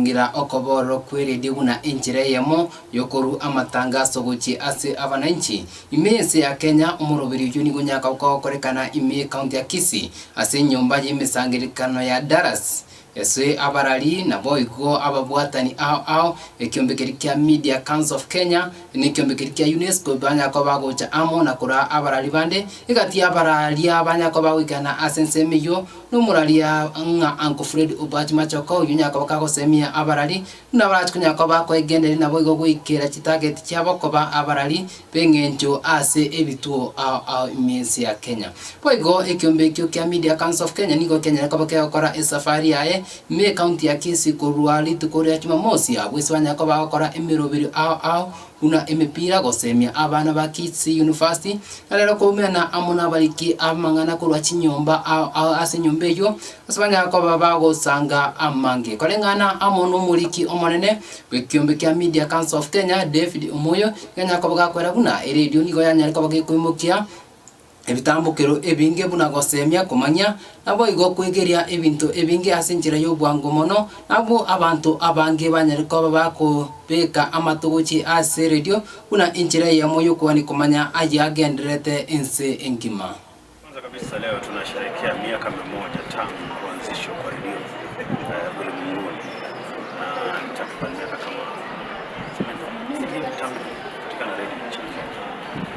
Ngira okoboorwa kw'eredio buna enchera eyemo y'okorua amatangaso gochia ase abananchi. Ime y'ense ya Kenya, omoroberi oyio nigo nyaka okogokorekana ime y'ekaunti ya Kisii ase enyomba y'emesangererekano ya Dallas. Ase abarari naboigo ababwatani ao ao, ekiombe keria kia Media Council of Kenya na ekiombe keria kia UNESCO banya koba bagocha amo na koraa abarari bande, egati y'abaraaria banya koba bagoikerana ase ensemo eyio, Nomoraria ng'a Uncle Fred Obach Machoka oyio nyakaba kagosemia abarari buna barachi konya koba bakoegenderia naboigo goikera chitageti chiabo koba abarari b'eng'encho ase ebituo ao ao emensi ya Kenya. Boigo ekiombe ekio kia Media Council of Kenya nigo kianyare koba kegokora esafari yaye ime ecounty ya Kisii korwa rituko ria Jumamosi abwo ase banyare koba bagokora emeroberio ao ao buna emepira, gosemia abana ba Kits University, na rero koumerana amo nabariki amang'ana korwa chinyomba ase enyomba eyio, ase banyare koba bagosanga amange. Koreng'ana amo nomoriki omonene bw'ekiombe kia Media Council of Kenya, David Omoyo, iga anyare koba gakwera buna eredio nigo yanyare koba gekoimokia, ebitambokero ebinge buna goseemia komanya, naboigo kwegeria ebinto ebinge ase enchera y'obwango mono. Nabwo abanto abange banyare koba bakobeka amato gochia ase eredio buna enchera eyemo y'okogania komanya ayagendererete ense engima. Kwanza kabisa leo tunasherehekea miaka mia moja tangu kuanzishwa kwa redio eh, ulimwenguni, na ni takriban miaka kama tuseme, 30 tangu kupatikana redio nchini Kenya.